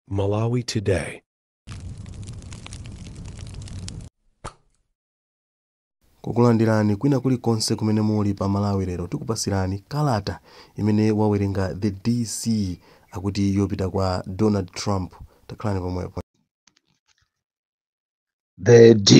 Malawi Today. kukulandirani kwina kulikonse kumene muli pa malawi lero tikupasirani kalata imene wawerenga the dc akuti yopita kwa donald trump takhalani pomwepo The DC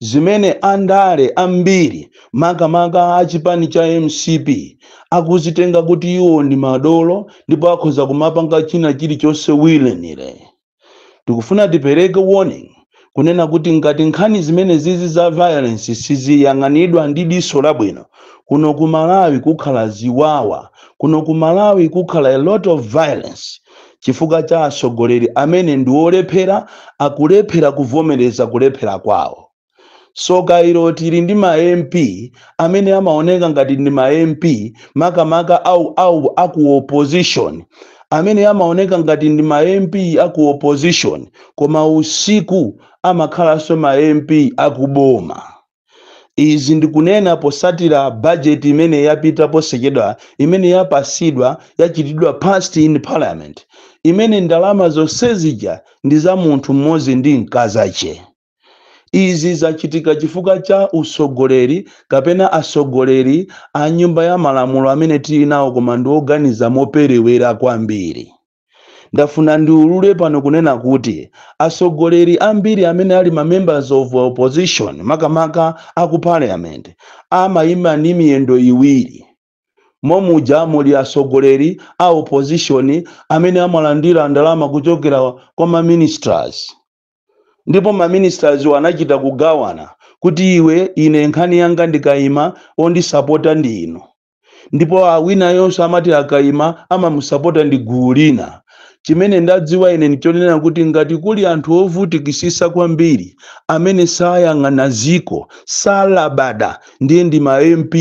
zimene andale ambiri makamaka a chipani cha mcp akuzitenga kuti iwo ndi madolo ndipo akhoza kumapanga china chilichonse willy-nilly. Tikufuna tipereke warning kunena kuti ngati nkhani zimenezizi za violence siziyang'anidwa ndi diso labwino, kuno ku Malawi kukhala ziwawa, kuno ku Malawi kukhala a lot of violence. chifukwa cha atsogoleri amene ndi olephera akulephera kuvomereza kulephera kwawo soka ilo tili ndi ma mp amene amaoneka ngati ndi ma mp makamaka au au aku opposition amene amaoneka ngati ndi ma mp aku opposition koma usiku amakhalanso ma mp akuboma izi ndikunena posatira budget imene yapita posachedwa imene yapasidwa yachitidwa passed in parliament imene ndalama zonse zija ndi za munthu mmodzi ndi mkazache izi zachitika chifukwa cha usogoleri kapena asogoleri a nyumba ya malamulo amene tili nawo koma ndioganiza moperewera kwambiri Ndafuna ndiulule pano kunena kuti asogoleri ambiri amene ali ma members of opposition makamaka a ku parliament amayima ndi miyendo iwiri momuja muli asogoleri a opposition amene amalandira ndalama kuchokera kwa ma ministers ndipo ma ministerswo anachita kugawana kuti iwe ine nkhani yanga ndikayima ondisapota ndi inu ndipo awinayonso amati akayima amamusapota ndi gulu lina chimene ndadziwa ine ndichonena kuti ngati kuli anthu ovutikisisa kwambiri amene sayang'ana ziko salabada ndiye ndi ma mp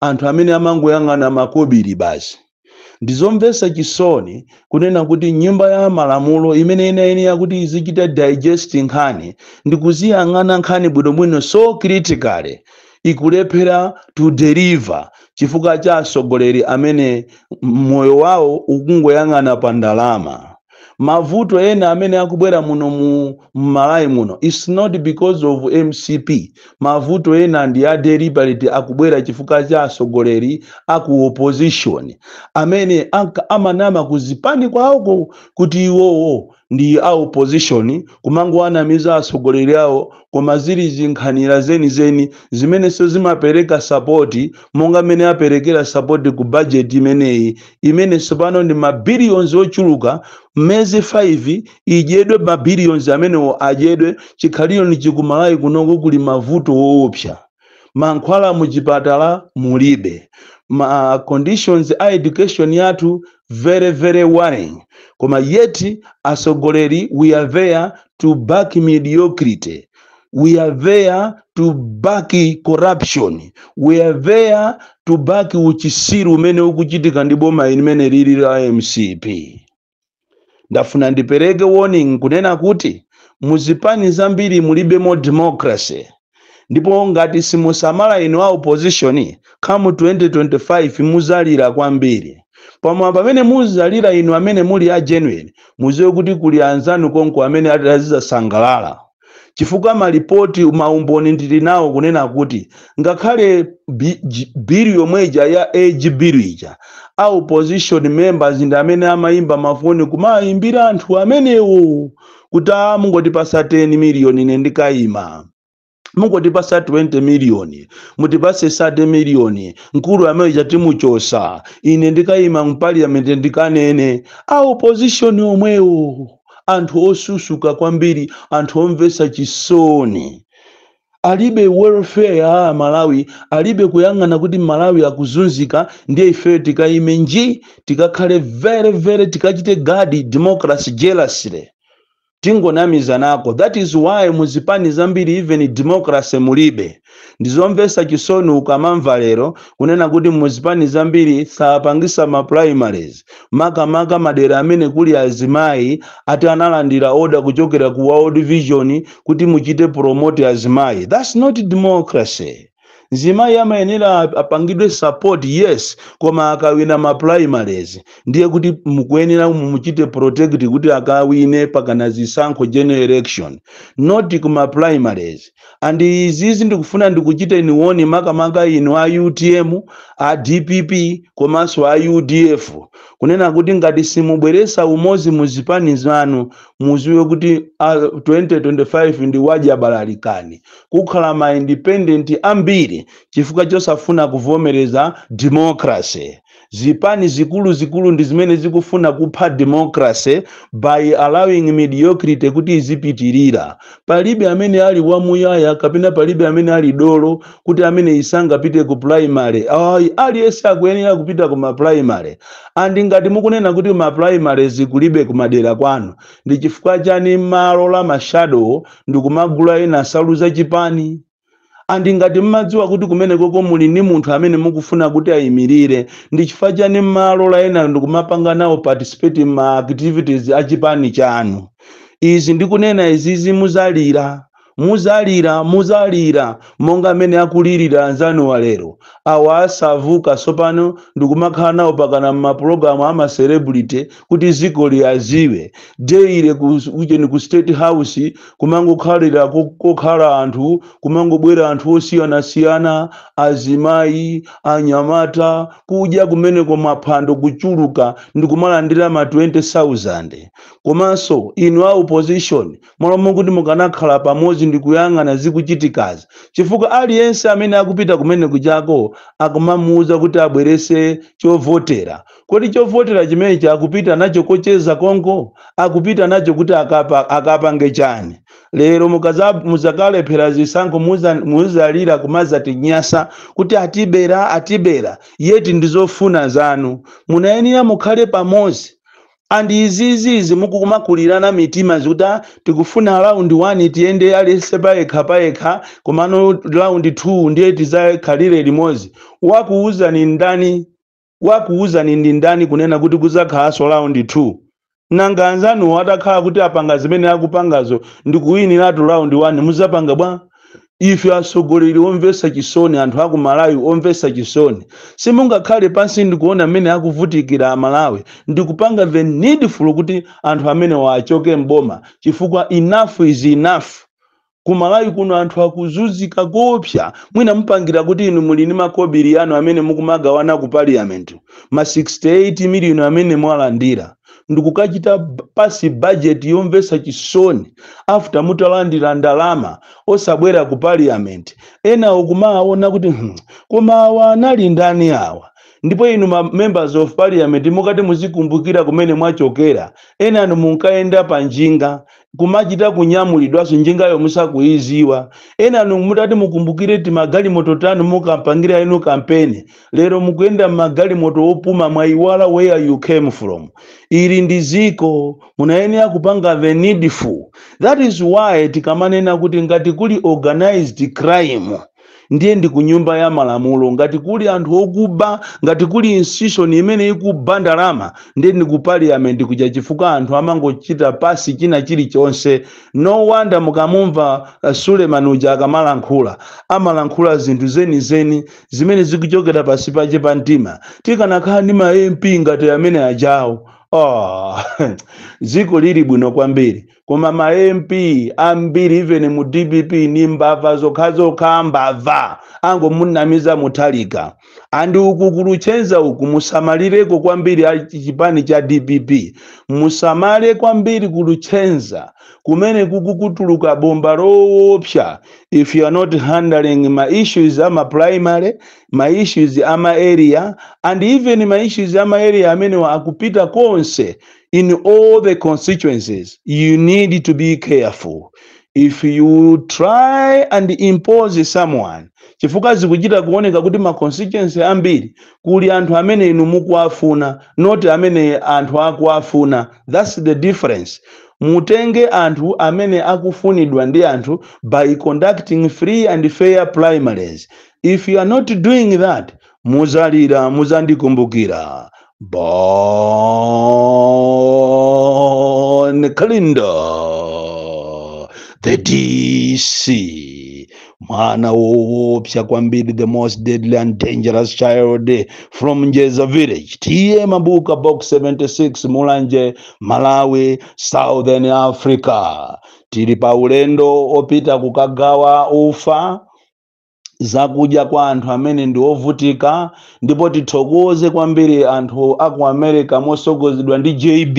anthu amene amangoyang'ana makobiri basi ndizomvesa chisoni kunena kuti nyumba ya malamulo imene inayenera kuti izichita digest nkhani ndikuziyang'ana nkhani bwinobwino so critically ikulephera to deliver chifukwa cha asogoleri amene moyo wawo ukungoyang'ana pa ndalama mavuto ena amene akubwera muno mmalawi muno it's not because of mcp mavuto ena ndi a deliberate akubwera chifukwa cha asogoleri aku opposition amene amanama kuzipani kwawoko kuti iwowo ndi a opposition kumangowanamiza atsogoleri awo koma zili zinkhanira zenizeni zimenenso zimapereka sapoti monga mmene aperekera sapoti ku bajeti imeneyi imene tsopano ndi mabiliyonzi ochuluka mmiyezi 5 idyedwe mabiliyonzi amenewo adyedwe chikhalireni chikumalayi kunoko kuli mavuto woopsa mankhwala muchipatala mulibe, ma conditions a education yathu very very worrying, koma yet atsogoleri we are there to back mediocrity, we are there to back corruption, we are there to back uchisiru umene ukuchitika ndi boma limene lili la mcp. ndafuna ndipereke warning kunena kuti muzipani zambiri mulibemo democracy ndipo ngati simusamala inu a opposition come 2025 muzalira kwambiri pamene pamene muzalira inu amene muli a genuine muziwe kuti kuli anzanu konko amene atazizasangalala chifukwa malipoti maumboni ndili nawo kunena kuti ngakhale bi- ji- bill yomwe ija ya age bill ija a opposition members ndi amene amayimba mafoni kumayimbira anthu amenewo kuti a mungotipasa 10 miliyoni ine ndikayima mungotipasa 20 miliyoni mutipase 30 miliyoni mkulu ameneuja timuchosa ine ndikayima mu parliament ndikanene a opposition omwewo anthu osusuka kwambiri anthu omvetsa chisoni alibe welfare ya amalawi alibe kuyang'ana kuti malawi akuzunzika ndiye ifeyo tikayimenji tikakhale very very tikachite guard democracy jealously tingonamizanako that is why muzipani zambiri even democracy mulibe ndizomvesa chisoni ukamamva lero kunena kuti muzipani zambiri sapangisa ma primaries makamaka madera amene kuli azimayi ati analandira order kuchokera ku world vision kuti muchite promote azimayi that's not democracy mzimayi amayenera ap- apangidwe support yes koma akawina ma primaries ndiye kuti mukuyenera mumuchite protect kuti akawine pakana zisankho general election not kuma primaries and izizi ndikufuna ndikuchiteni warn makamaka inu a utm a dpp komanso a udf kunena kuti ngati simubweresa umozi mu zipani zanu muziwe kuti 2025 ndi wadya balalikani kukhala ma independent ambiri chifukwa chosafuna kuvomereza democracy Zipani zikuluzikulu ndi zimene zikufuna kupha democracy by allowing mediocrity kuti izipitirira. Palibe amene ali wamuyaya kapena palibe amene ali dolo kuti ameneyi sangapite ku primary. Ayi, aliyense akuyenera kupita ku ma primary. And ngati mukunena kuti ma primaries kulibe kumadera kwanu, ndi chifukwa chani mmalola ma shadow ndikumagula enawo nsalu za chipani? And ngati mmadziwa kuti kumenekoko muli ndi munthu amene mukufuna kuti ayimirire, ndi chifukwa chani mmalola enayo ndikumapanga nawo participate mma activities a chipani chanu? Izi ndikunena izizi muzalira, muzalira, muzalira monga mmene akulirira anzanuwa lero. Awa asavuka tsopano ndikumakhala nawo pakana mmapologalamu a ma celebrity kuti ziko liyaziwe daily queue-cheni ku state house kumangokhalira ko- kokhala anthu kumangobwera anthu osiyanasiyana azimayi anyamata kudya kumeneko maphwando kuchuluka ndi kumalandira ma 20000 komanso inu a opposition malo mokuti mukanakhala pamodzi ndi kuyang'ana zikuchitikazi chifukwa aliyense amene akupita kumeneko uchako akumamuuza kuti abwerese chovotera Kodi chovotera chimenechi akupita nacho kocheza konko? Akupita nacho kuti akapa, akapange chani? Lero mukaza, muzakalephera zisankho muza, muzalira kumazatinyasa kuti atibera atibera yet ndizofuna zanu. Munayenera mukhale pamodzi and izizi izi mukumakulirana mitima muzikuti ah tikufuna round 1 tiyende aliyense payekha payekha komano round 2 ndiye tizakhalire limodzi. Wakuwuzani ndani? Wakuuzani ndi ndani kunena kuti kudzakhalanso round 2? Nanga anzanuwo atakhala kuti apanga zimene akupangazo ndikuwiniratu round 1 mudzapanga bwa? Ife atsogoleri omvetsa chisoni anthu aku Malawi omvetsa chisoni. Simungakhale pansi ndikuona mmene akuvutikira a Malawi ndikupanga the needful kuti anthu amenewa achoke m'boma chifukwa enough is enough. Kumalawi kuno anthu akuzuzika koopsa mwina mupangira kuti inu muli ndi makobili anu amene mukumagawana ku parliament ma 68 million amene mwalandira ndikukachita pasi budget yomvetsa chisoni after mutalandira ndalama osabwera ku parliament enawo kumaawona kuti hmm, koma awa anali ndani awa ndipo inu ma members of parliament mukati muzikumbukira kumene mwachokera enanu munkayenda pa njinga kumachita kunyamulidwanso njingayo musakuiziwa enanu mutati mukumbukire timagalimoto tanu munkapangira inu kampeni lero mukuyenda mmagalimoto opuma mwaiwala where you came from ili ndi ziko munayenera kupanga the needful that is why tikamanena kuti ngati kuli organized crime ndiye ndi ku nyumba ya malamulo ngati kuli anthu okuba ngati kuli institution imene ikuba ndalama ndiye ndi ku parliament kuja chifukwa anthu amangochita pass china chilichonse no wonder mukamumva uh, Suleman uja akamalankhula amalankhula zinthu zenizeni zimene zikuchokera pasi pache pa mtima tikanakhala ndi ma mp ngati amene ajawo oh, dziko lili bwino kwambiri koma ma mp ambiri even mu dpp ni mbava zokhazokha mbava angomunamiza Mutharika and uku ku Luchenza uku musamalireko kwambiri a chipani cha dpp musamale kwambiri ku Luchenza kumene kukutuluka bomba loopsa if you are not handling ma issues ama primary ma issues ama area and even ma issues ama area amenewa akupita konseko in all the constituencies, you need to be careful. If you try and impose someone, chifukwa zikuchita kuoneka kuti ma constituency ambiri kuli anthu amene inu mukuwafuna not amene anthu akuwafuna that's the difference mutenge anthu amene akufunidwa ndi anthu by conducting free and fair primaries if you are not doing that muzalira muzandikumbukira Bon Kalindo the dc mwana woopsa kwambiri the most deadly and dangerous child from njeza village TA Mabuka box 76 mulanje malawi southern africa tili pa ulendo opita kukagawa ufa zakudya kwa anthu amene ndi ovutika ndipo tithokoze kwambiri anthu a ku america mosogozedwa ndi jb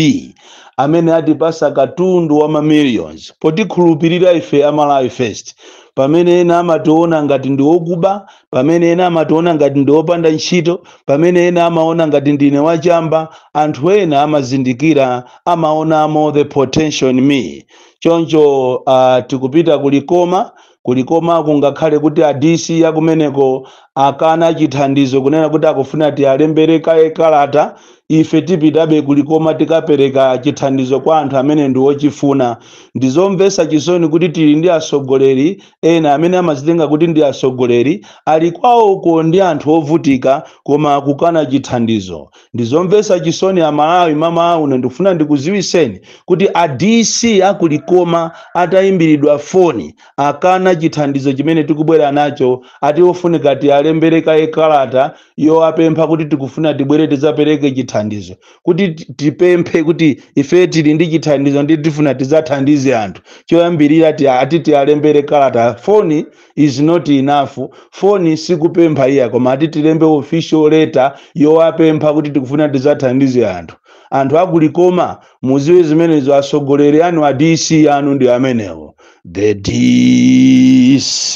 amene atipasa katundu wa mamillions potikhulupirira ife amalawi first pamene ena amationa ngati ndi okuba pamene ena amationa ngati ndi opanda ntchito pamene ena amaona ngati ndine wachamba anthu ena amazindikira amaonamo the potential in me choncho uh, tikupita ku Likoma Ku Likoma kungakhale kuti a DC a kumeneko akana chithandizo kunena kuti akufuna tialembere kaye kalata, ife tipitabe ku Likoma tikapereka chithandizo kwa anthu amene ndi ochifuna. Ndi zomvetsa chisoni kuti tili ndi atsogoleri ena amene amadzitenga kuti ndi atsogoleri, ali kwawoko ndi anthu ovutika koma akukana chithandizo. ndizomvetsa chisoni a malawi mmawa uno ndikufuna ndikuziwiseni kuti a dc a ku Likoma atayimbiridwa foni akana chithandizo chimene tikubwera nacho ati ofunika tiyalembere kaye kalata yowapempha kuti tikufuna tibwere tidzapereke chithandizo kuti ti- tipemphe kuti ife tili ndi chithandizo ndiye tifuna tidzathandize anthu choyambirira ti- ati tiyalembere kalata foni is not enough foni sikupempha iya koma ati tilembe official letter yowapempha kuti tikufuna tizathandize anthu anthu aku Likoma muziwe zimenezo atsogoleri anu a dc anu ndi amenewo the dc